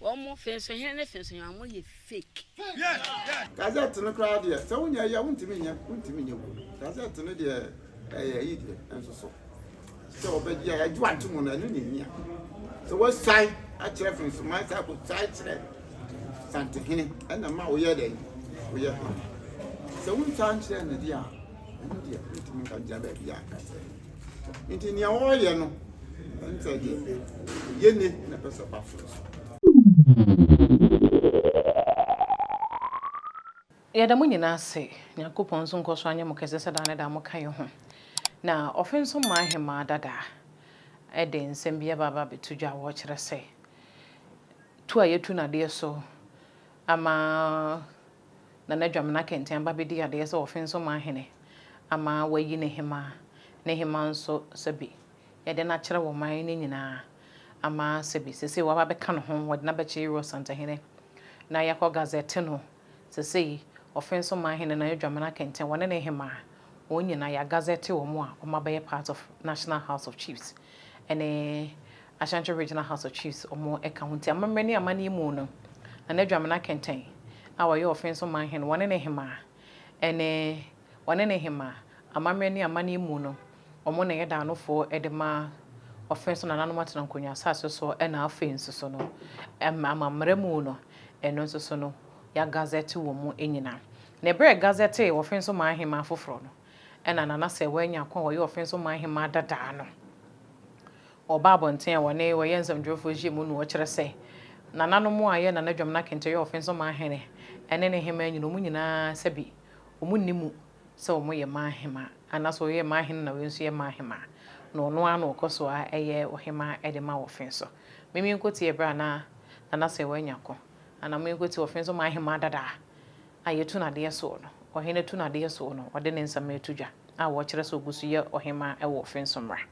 Wɔn fensohene ne fensohema mo yɛ fake. Gazette no koraa deɛ sɛ wonyɛ yɛ wontumi nyɛ wontumi nyɛ wom gazette no deɛ ɛyɛ ayi deɛ nso so sɛ wɔbɛgye a ɛgye wante mu no ɛno na ɛhia sɛ wɔsuae akyerɛ fensoman sɛ akɔsuae kyerɛ santehene ɛna ma woyɛ dɛn woyɛ hene sɛ wonsuae nkyerɛ ne deɛ a ɛno deɛ wontumi nka gyina baabi a ka sɛ Nti nea ɔreyɛ no ɛnkyerɛ gye sɛ yɛ ne na ɛpɛ sɛ ɔba soro so. Yɛda mo nyinaa ase. Nyankopɔn nso nkɔ so anyɛ mo kɛse sɛ daa ne daa moka yɛ ho. Na ɔfe nso mmaa ahemaa dada de nsɛm bi aba aba abɛto dwa a wɔkyerɛ sɛ tu a yɛtu no adeɛ so Ama Nana Dwamena Kɛntɛn aba abɛdi adeɛ sɛ Ɔfensomaa hene ama wɔayi no hemaa, ne hemaa nso sɛbe yɛde no akyerɛ wɔ man no nyinaa ama sɛbe seesei wɔaba abɛka ne ho, wɔde no abɛkyɛ Iro Asantehene na yɛakɔ gazɛte no seesei Ɔfensomaa hene Nana Dwamena Kɛntɛn wɔne ne hemaa wɔn nyinaa yɛagazɛte wɔn a wɔabɛyɛ part of National House of Chiefs ne Ashanti Regional House of Chiefs wɔn ka ho nti amammerɛ ne amanneɛ mu no Nana Dwamena Kɛntɛn a ɔyɛ ɔfen so manhen wɔne ne hemaa ɛne wɔne ne hemaa amammerɛ ne amanneɛ mu no wɔn na ɛyɛ daanofoɔ de ma ɔfen so nananom atena nkonnwa asase so ɛna afei nso so no amammerɛ mu no ɛno nso so no yɛagazɛte wɔn nyina na ɛberɛ a ɛgazɛtee ɔfen so man hemaa foforɔ no ɛna Nana Sɛwɔ Anyaako a ɔyɛ ɔfen so man hemaa dadaa no Wɔba abɔnten a wɔne wɔyɛ nsɛmtwerɛfoɔ hyia mu no wɔkyerɛ sɛ, nananom a yɛ Nana Dwamena Kente yɛ Ɔfenso Manhene ne ne Hemaa nyina wɔn nyinaa sɛbe wɔn nni mu sɛ wɔn yɛ Manhemaa anaa sɛ ɔyɛ Manhene na wei nso yɛ Manhemaa na ɔno ara na ɔkɔ so ara yɛ Ɔhemaa de ma Ɔfenso. Mimi nkɔtie berɛ a na Nana Sewaa nya ko anaa mo nkɔtie Ɔfenso Manhemaa dada a a yɛtu no adeɛ soɔ no, Ɔhene tu no adeɛ soɔ no ɔde ne nsɛm reto dwa a wɔkyerɛ sɛ ɔgu so yɛ Ɔhemaa wɔ Ɔfenso mmara.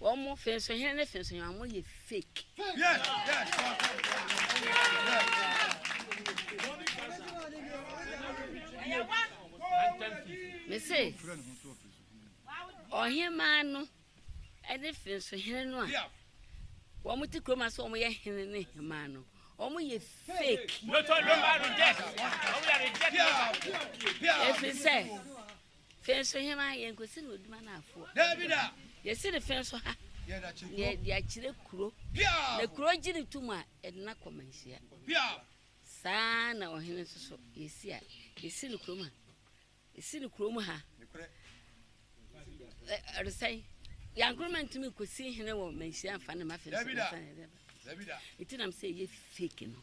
Wɔn fensohene ne fensohene wɔn yɛ fake. Mese ɔhemaa no ɛne fensohene no a wɔn ti kurom ase wɔn yɛ hene ne hemaa no wɔn yɛ fake. Efisɛ. Fe nso hena? Yɛnkɔsi no Oduma no afoa. Daabi da! Yɛsi no fe nso ha. Yɛda kyerɛ kuro. Na yɛda kyerɛ kuro. Piaw! Na kuro gye ne tum a, yɛde no akɔ manhyia. Piaw! Saa na ɔhene nso so yɛsi a, yɛsi no kurom ha. Yɛsi no kurom ha. Nekorɛ. Ɔresɛn. Yankoroma ntumi nkɔsi hene wɔ manhyia mfa ne ma fe nso. Daabi da! Daabi da! Nti nam sɛ ɛyɛ fake no.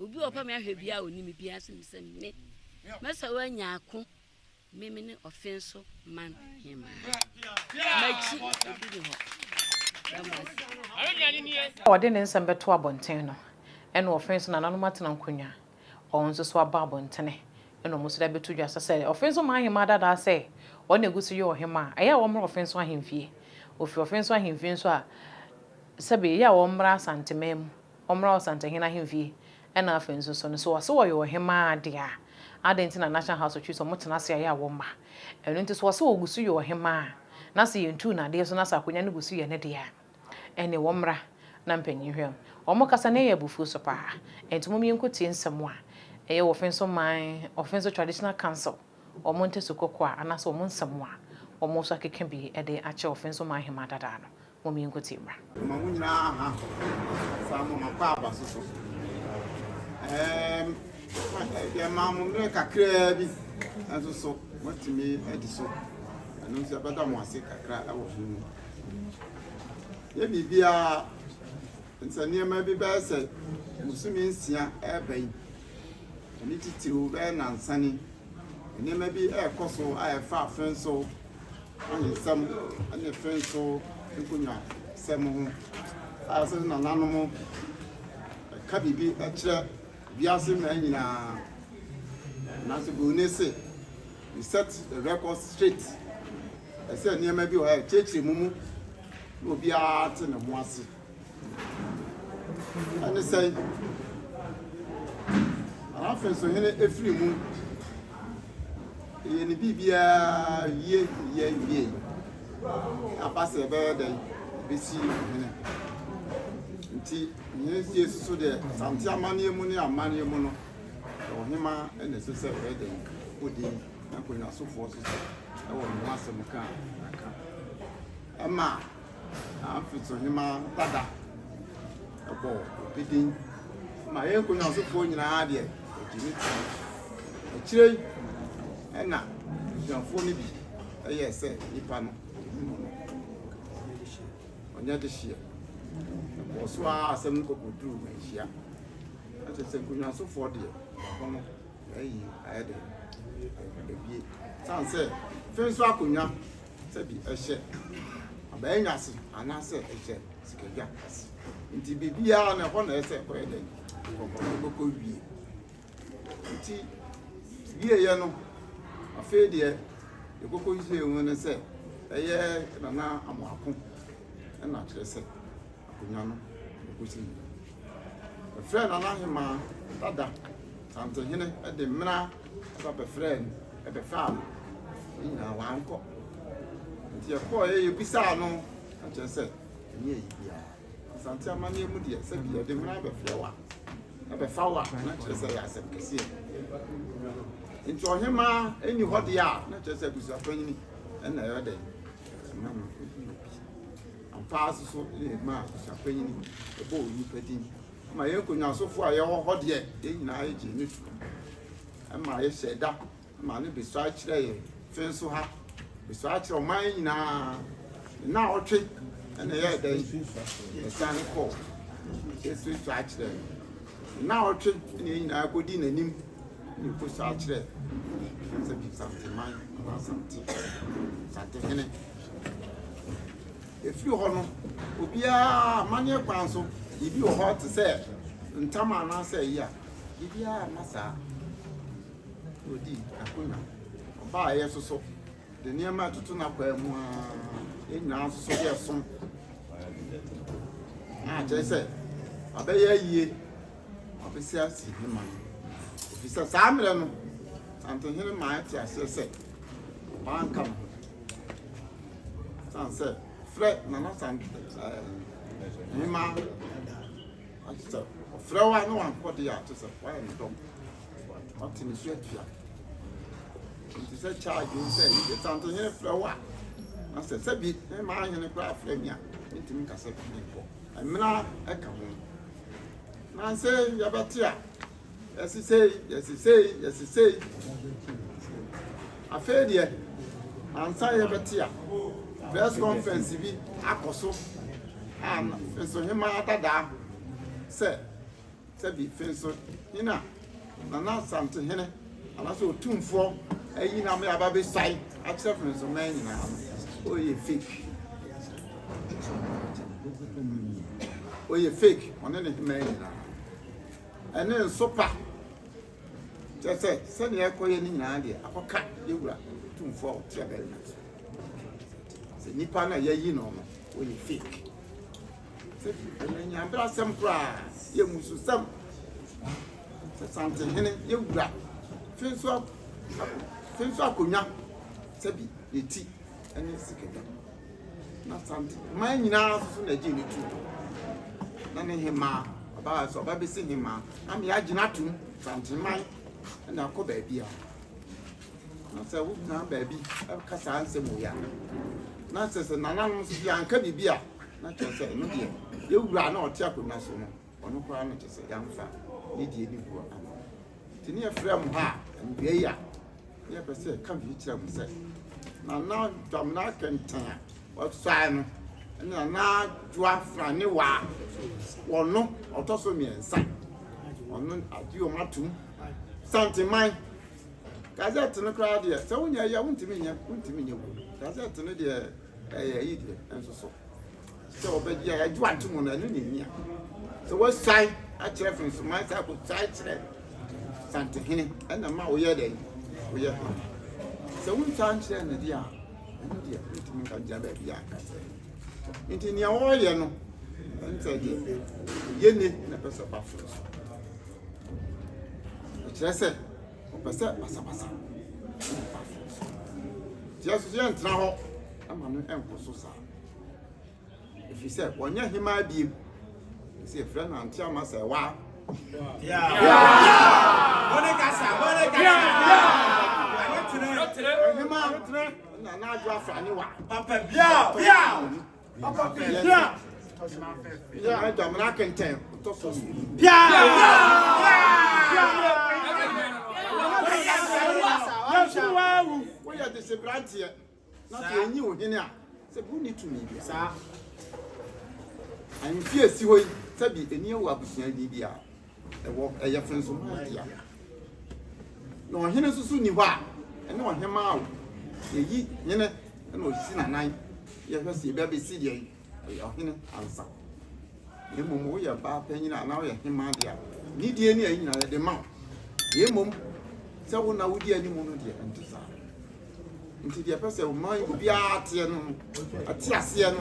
Obi wɔ hɔ pɛ me ahwɛ bia a ɔni me bia sɛ me sɛ me. Mɛsɛ wɔ anya ako me me ne ɔfe nso man hemaa. Makyi obi ne hɔ. Ɔde ne nsɛm bɛto abɔnten no ɛna ɔfe nso nananom atena nkonnwa ɔn nso so aba abɔntene ɛna ɔmo nso de abɛto dwa sɛ sɛ ɔfe nso man hemaa dadaa sɛ ɔn na egu so yɛ ɔhemaa a ɛyɛ a wɔmmra ɔfe nso ahemfie. Ɔfiri ɔfe nso ahemfie nso a sɛbe ɛyɛ a wɔmmra Asanteman mu. ɔmmra Ɔsantehene ahemfie ɛna afei nso so no sɛ ɔse ɔyɛ ɔhemaa deɛ a adɛn nti na National House of Chiefs ɔmo tena ase a ɛyɛ a wɔmma ɛno nti sɛ ɔse ɔguso yɛ ɔhemaa na sɛ yɛntuu no adeɛ so na sɛ akonwa no guso yɛ ne deɛ a ɛneɛ ɔmmra na mpanyin hwɛ no ɔmo kasa na ɛyɛ abufuo so paa ɛnti mom yɛnkɔtie nsɛm a ɛyɛ wɔ Ofenso man Ofenso Traditional Council ɔmo ntasu kɔkɔɔ a anaasɛ ɔmo nsɛm a ɔmo nso akeka bi de akyɛ Ofenso man hemaa dadaa no Mo me nkotie mmra. Mema mo nyinaa aha saa mo makɔ aba so so deɛ maa mo mmerɛ kakraa bi nso so moatumi adi so ɛno nso ɛbɛda mo ase kakra ɛwɔ ho mu yɛ biribiara nsa nneɛma bi bɛyɛ sɛ musumi nsia ɛreba yi ɛne titiriw bɛyɛ nansane nneɛma bi ɛrekɔ so a ɛfa afɛn so Awansɛm ne fɛn so nkonyasɛm ho. A Sɛ nananom ka biribi kyerɛ wiase mmaa nyinaa, nanso Buroni se, You set the record straight. Ɛsɛ sɛ nneɛma bi wɔ hɔ a ɛkyerɛkyerɛ mu mu na obiara te ne ho ase. Ɛne sɛn? Anafin so hene efiri mu. Yɛ ne biribiara wie yɛ wie. Aba sɛ ɛbɛyɛ dɛn bɛsi hene. Nti hene sie so so deɛ sante amanneɛ mu ne amanneɛ mu no ɛwɔ hema ɛna ɛsɛ sɛ ɛbɛyɛ dɛn odi nkonnwasofoɔ so so ɛwɔ ne ho asɛm ka aka. Ɛma Na afe so hema dada bɔ obi din ma yɛn nkonnwasofoɔ nyinaa deɛ ɔgye ne ti. Akyire yi ɛna abusuafoɔ no bi ɛyɛɛ sɛ nipa no ɔnim wɔn. Ɔnyɛ dehyeɛ. Ɛkɔɔ so ara asɛm no kɔkɔduruu manhyia. Na kyerɛ sɛ nkonnwasofoɔ deɛ baako no Ayi ayɛ dɛ ebie. San sɛ fi nso akonwa sɛ bi ɛhyɛ abɛɛ nwa se anaasɛ ɛhyɛ sikadwa ase nti biribiara na ɛhɔ na ɛsɛ ɛkɔyɛ dɛ ɛkɔkɔ wie nti wieɛ no afei deɛ yɛkɔkɔ wie mu no sɛ ɛyɛ nana amoako ɛna kyerɛ sɛ akonnwa no kosi nnɛ. Wɔfrɛɛ Nana Hemaa dada Santehene de mmena ba bɛfrɛɛ no bɛfaa no, ne nyinaa wankɔ. Nti yɛkɔeɛ yɛbisaa no na kyerɛ sɛ ɛnyɛ ayi biara. Asante amanneɛ mu deɛ sɛ bi yɛde mmena bɛfrɛ wo a, bɛfa wo a na kyerɛ sɛ ɛyɛ asɛm kɛseɛ. Nti ɔhemaa ɛnni hɔ deɛ a na kyerɛ sɛ abusuapanyini ɛna ɛyɛ dɛn ɛma no ɛbi obi. Ampa ara so na ɛma abusuapanyin bɔ onipa din? Ama yɛn nkonyasofo a yɛwɔ hɔ deɛ, yɛn nyinaa yɛgyee no toom. Ɛma yɛhyɛɛ da ma no besoa kyerɛɛ yɛn fã nso ha, besoa kyerɛɛ ɔman nyinaa. Nnawɔtwe na ɛyɛɛ dɛn? Ɛsan kɔɔ besoa kyerɛɛ no. Nnawɔtwe na yɛn nyinaa kɔdii n'anim na ɛkɔsoa kyerɛɛ Asante man anaa Asante Asantehene. Ɛfiri hɔ no, obiara amanneɛ kwan so, biribi wɔ hɔ te sɛ ntama anaasɛ ayi a, biribiara mma saa. Ɔdi akonnwa, ɔbaa a yɛsoso de nneɛma ɛtoto n'akwaa mu a yɛn nyinaa nsoso de ɛso. Na akyerɛ sɛ ɔbɛyɛ ayie, ɔbɛsi asi ne ma no. Ɛfiri sɛ saa mmerɛ no, Santehene maa ɛte aseɛ sɛ ɔbaa nka ne ho. San sɛ frɛ nana san ɛma ati sɛ frɛ wa ne wankɔ de ati sɛ wa yɛ ne dɔm ɔte ne so atua nti sɛ charge wo sɛ yi san te nyɛ frɛ wa na sɛ sɛ bi ne ma anyɛ ne kora frɛ mi a ntumi kasa bi ne nkɔ ɛmena ɛka ho na sɛ yɛbɛte a Yɛsesei, yɛsesei, yɛsesei. Afei deɛ, ansa yɛbɛte a, press conference bi akɔ so a Mfensohemaa dadaa sɛ, sɛbi Mfensohene a Nana Asantehene anaasɛ Otumfoɔ ayi no ama aba abɛsuae akyerɛ Mfensoman nyinaa no, ɔyɛ fake. Ɔyɛ fake, ɔne ne hemaa nyinaa. Ɛne nso pa. Kyerɛ sɛ, sɛnea ɛrekɔyɛ no nyinaa deɛ, akɔka yɛn Wura Tumfoɔ a ɔte ɔbarima no so. Sɛ nnipa no a yɛayi no no, wɔyɛ fake. Sɛ ɛno nyɛ abrasɛm koraa, yɛ mmususɛm. Sɛ Santehene yɛn Wura fe nso a, fe nso akonnwa sɛ bi ne ti ne sikadwa. na sante man nyinaa nso na gye ne tu na ne hemaa ɔbaa sɛ ɔba bɛsi hemaa na ne agyina atom sante man na akɔ baabi a na sɛ wogyina baabi ɛka saa nsɛm wɔ yɛ na sɛ sɛ nananom nso yɛanka biribi a na kyerɛ sɛ ɛno deɛ yɛwura na ɔte akonnwa so no ɔno koraa no kyɛ sɛ yɛamfa ne deɛ ne guo ama no. Nti ne yɛfrɛ mo ha a, awiei a, ne yɛpɛ sɛ yɛka biribi kyerɛ mo sɛ, Nana Dwamena Akɛntɛn a wɔasuae no ne Nana Adwoa Franewa a ɔno ɔtɔ so mmiɛnsa, ɔno agye wɔn atom. Santeman, gazette no koraa deɛ, sɛ wonyɛ yɛ, wontumi nyɛ, wontumi nyɛ wɔ. Gazette no deɛ, ɛyɛ yi deɛ, nso so. Sɛ wɔbɛgye a yɛagye ato mu no, ɛno na ehia. Sɛ wɔasuae akyerɛ Fensoman sɛ akɔsuae kyerɛ Santehene ɛna ma woyɛ dɛn? Woyɛ hene. Sɛ wonsuae nkyerɛ no deɛ a, ɛno deɛ wotumi nka gyina baabi a aka sɛ. Nti nea wɔreyɛ no, ɛno sɛ deɛ yɛne na ɛpɛ sɛ ɔba foro so. Ɛkyerɛ sɛ ɔpɛ sɛ basabasa ɛna ɛba foro so. Nti yɛn nso so yɛntena hɔ ɛma no ɛnkɔ so saa. ɛfiri sɛ ɔnyɛ hemaa biem sɛ ɛfrɛ no ante ama sɛ waa na n'adwo afra ne wa papa biaa biaa papa biaa biaa dɔmena kentɛn ɔtɔ so biaa biaa biaa Na afei enye wo hene a, sɛ bi wonni tumi biara. Saa ahemfie a esi hɔ yi, sɛ bi ani awu abusua din bi a ɛwɔ, ɛyɛ fensoman dea. Na ɔhene nso so nni hɔ a, ɛne ɔhemmaa o. Yɛyi hene na ɔsi n'anan, yɛhwɛ sɛ ebi abesi deɛn, Ɔyɛ ɔhene ansa. Na mmom woyɛ baa panyin a anaa woyɛ hemaa deɛ a, nidie ne ayi nyinaa yɛde ma wo. Na mmom sɛ wo na wodi anim no deɛ ɛnte saa. Nti deɛ ɛpɛ sɛ ɔma obiara teɛ no ate aseɛ no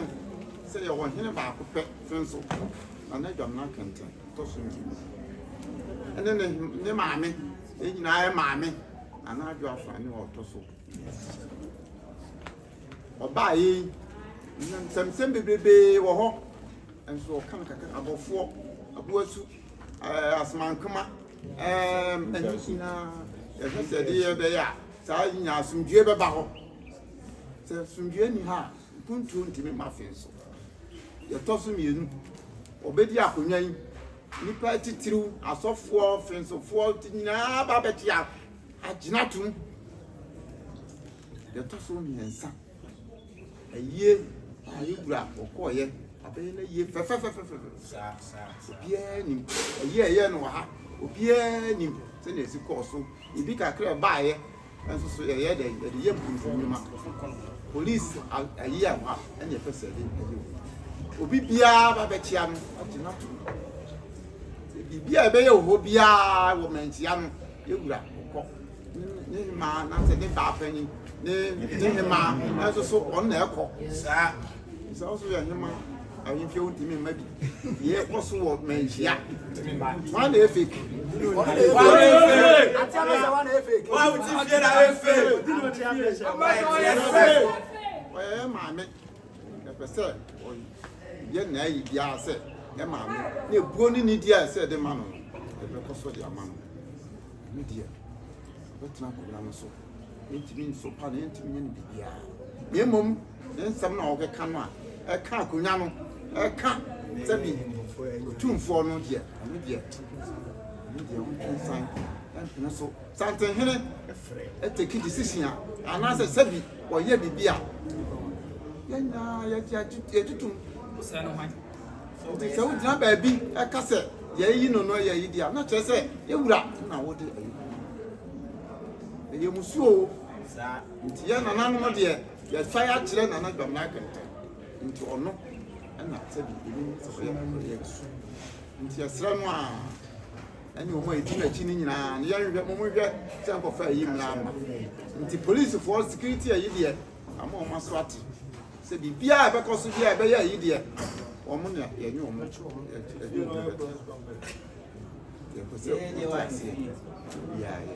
sɛ yɛwɔ ɔhene baako pɛ fɛn so na na adwamena kɛntɛn tɔ so mmienu ɛne ne ne maame ne nyinaa yɛ maame anaa adwo afa ne ɔtɔ so mmiɛnsa. Ɔbaa yei nsɛmsɛm bebrebee wɔ hɔ nso ɔka no kakra abɔfoɔ aboasu ɛɛ asomankoma ɛɛm ɛno nyinaa yɛhwɛ sɛ ɛde yɛ bɛyɛ a saa nyinaa asomdwoeɛ bɛba hɔ sɛ asomdwoeɛ ni ha a mpuntuo ntumi ma afei nso yɛtɔ so mmienu ɔbɛdi akonnwa yi nnipa titiriw asɔfoɔ fensofoɔ nyinaa ba bɛte agyina tom Deɛ ɛtɔ so mmiɛnsa, ayie a yɛn wura ɔkɔɔeɛ, abɛyɛ n'ayie fɛfɛfɛfɛfɛ. Obiara nim ayie a ɛyɛ no wɔ ha, obiara nim sɛdeɛ ɛsi kɔɔ so. Ebi kakra ɛbaeɛ nso so yɛyɛ dɛ yɛde yɛ mpuntu nnwuma. Polisi ayie a wɔ ha ɛna ɛpɛ sɛ ɛde ayie wɔ ha. Obi biara ba bɛkyia no agye no ato mu. Biribi a ɛbɛyɛ wɔ hɔ biara wɔ mankyia no, yɛn wura ɔkɔ. ne hemaa na sɛ ne baa panyin ne ne hemaa nso so ɔno na ɛkɔ saa sɛ ɔso yɛ hema ahemfie wo ntumi mma bi yɛ kɔ so wɔ manhyia wọn na efe wọn na efe wọn na efe wọn ti fie na efe wọn yɛ maame. Ɛpɛ sɛ ɔyɛ n'ayi biara sɛ ɛma no, na ebuo ne nidi a ɛsɛ ɛde ma no no, ɛbɛkɔ so de ama no. Ɛno deɛ, ɔbɛtena akonnwa no so. Ɛntumi nsopa no, ɛntumi nyɛ no biribiara. Na mmom, ne nsɛm no a ɔbɛka no a, ɛka akonnwa no, ɛka sɛbi otumfoɔ no deɛ, ɛno deɛ, ɛno deɛ ɔntwe nsan, ɛmpene so. Santenhene take decision a anaasɛ sɛbi wɔyɛ biribi a yɛn nyinaa yɛgye tom. Nti sɛ wogyina baabi ɛka sɛ yɛayi no no yɛayi deɛ a na kyerɛ sɛ yɛ wura na wode ayi. Ɛyɛ musuo o. Nti yɛ nananom deɛ yɛtwa yɛ akyerɛ nana dwamena akɛntɛ. Nti ɔno ɛna sɛbi ɛnim sɛ ɔyɛ ɔyɛ. Nti ɛsrɛ no a. ɛne wɔn a ɛdi n'akyi no nyinaa no yɛnhwɛ mo monhwɛ sɛ nkɔfa ayi mmra mma nti policefoɔ security ayi deɛ ama wɔn aso ate sɛ biribiaa a ɛbɛkɔ so biaa ɛbɛyɛ ayi deɛ wɔn na yɛnye wɔn ɛde wɔn bɛto yɛpɛ sɛ wɔn taseɛ biaa yɛ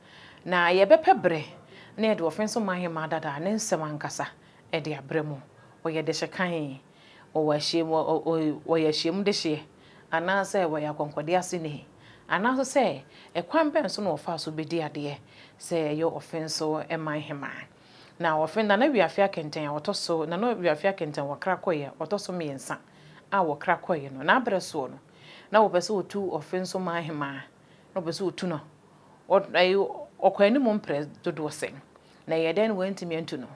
Na yɛbɛpɛ berɛ na yɛde Ɔfenso Mahema dada a ne nsɛm ankasa de abrɛ mo. Ɔyɛ dehye kann, ɔwɔ ahyiam, ɔyɛ ahyiam dehyeɛ, anaasɛ ɔyɛ akɔnkɔdeɛ aseni, anaasɛ sɛ ɛkwan bɛn so na ɔfaa so bɛdi adeɛ sɛ ɛyɛ Ɔfenso Mahema. Na Ɔfen, Nana Wiafe Akɛntɛn a ɔtɔ so, Nana Wiafe Akɛntɛn wɔkra kɔeɛ ɔtɔ so mmiɛnsa a wɔkra kɔeɛ no, n'abrɛ soɔ no, na wɔpɛ sɛ wɔtu Ɔfenso Mahema, na wɔpɛ sɛ wɔtu no. Ɔkɔ anim mprɛ dodoɔ sɛn, na ɛyɛɛ dɛn na wɔantumi antu no?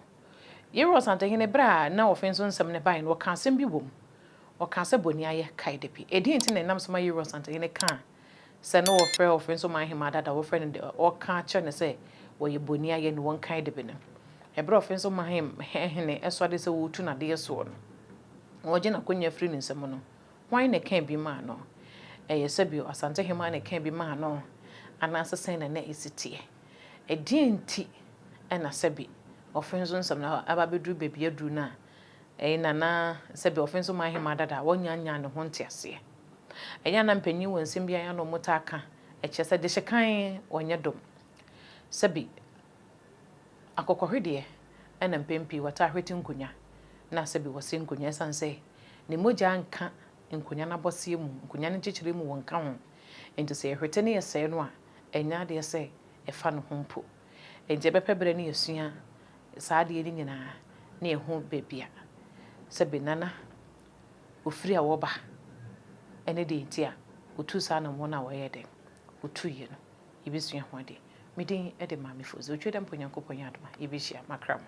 Yerua Ɔsantehene, berɛ a na wɔfenso so nsɛm no baeɛ no, ɔkaa asɛm bi wom. Ɔkaa sɛ, Boniayɛ kae da bi. Ɛdeɛn nti na ɛnam so ma Yerua Ɔsantehene kaa sɛ na wɔfrɛ ɔfenso man hemmaa dada, wɔfrɛ no de, ɔka kyerɛ no sɛ wɔyɛ boniayɛ na wɔnkae da bi no? Ɛberɛ a ɔfenso man hene sɔre sɛ ɔretu no adeɛ soɔ no, wɔregye n'akonnwa afiri ne nsam no, Hwan na ɛkaa bi maa no? Ɛyɛ sɛ bio Asantehemaa na ɛkaa bi maa no? Anaasɛ sɛn na na ɛsi teɛ? Ɛdeɛn nti na sɛbe wɔfe nso nsɛm no aba abɛduru baabi aduru no a, ɛyɛ na na sɛbe wɔfe nso maa hemaa dada a wɔnyannyaa ne ho nteaseɛ? Ɛyɛ a na mpanin wɔ nsɛm bi a ɛyɛ a na wɔtaa ka kyerɛ sɛ dehyekan ɔnyɛ dom. Sɛbe Akokɔhwedeɛ na mpɛn pii wɔtaa hwete nkonnwa na sɛ bi wɔse nkonnwa ɛsiane sɛ ne mogya nka nkonnwa no abɔseɛ mu, nkonnwa no nkyekyerɛ mu wɔnka ho nti sɛ yɛhwete na yɛsɛe no a ɛnyɛ adeɛ sɛ ɛfa ne ho mpo. Nti yɛbɛpɛ berɛ na yɛasua saa adeɛ no nyinaa na yɛahu baabi a sɛbe Nana ɔfiri a wɔba ne deɛ nti a ɔtuu saa anammɔn no a wɔyɛɛ dɛn? Ɔtuiɛ no. yebesua ho ade. Me din de Maame Fosu. Otwa dɛ mpo Onyankopɔn yɛ adom a, yebehyia. Makra mo.